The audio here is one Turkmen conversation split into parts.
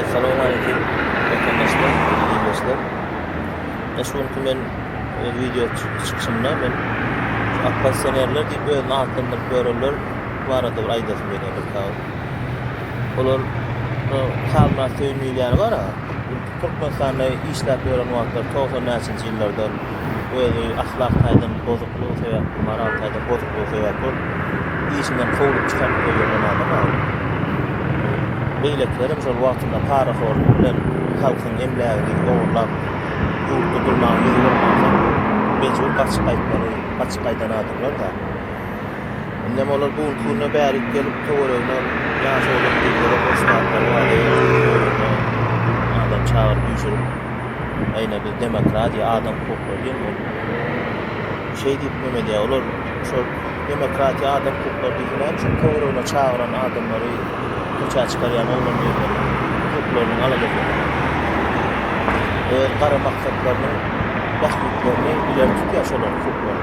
Assalamu aleýkum watandaşlar, hörmetli ildeşler. Şu günki men öz wideo çykyşymda men oppozisionerler diýip özüni atlandyryp ýörenler barada bir aýdasym gelýär bir sag. Olar Halmyrat Söýün diýýän bar-a, Türkmenistanda işläp ýören wagtlary 90 näçenji ýyllardan özi ahlak taýdan bozuklygy sebäpli, moral taýdan bozuklygy sebäpli ol işinden kowlup çykaryp goýan zenana bagly. Beýlekilerem şol wagtynda parahorlyk bilen halkyň emlägini ogurlap, ýurtda durmaga ýüzi bolmansoň, mejbur gaçyp gaýtmaly, gaçyp gaýdan adamlar-da. Indem olar bu günki güne bärik gelip, töweregine ýaş oglan gyzlara goşnaklary bardy, öýlerine adam çagyryp üýşürip. Aýna biz demokratiýa, adam hukuklary diýen ol şeý diýip gümedýär. Olar şol demokratiýa, adam hukuklary diýip näme üçin töweregine çagyran adamlary köçä çykarýan oglan ýerleri hukuklaryny galan eken. Öz gara maksatlarynyň bähbitlerini ileri tutýar şolaryň hukuklary.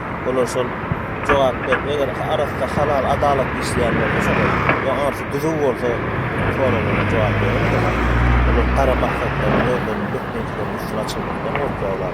Olar şol jogap berip, eger arasda halal, adalatly işleýän bolsa, şolar we arsy düzüw bolsa, soralara jogap berer. Olar gara maksatlaryny özleriniň dökmejekleriniň üstüni açanlykdan gorkýarlar.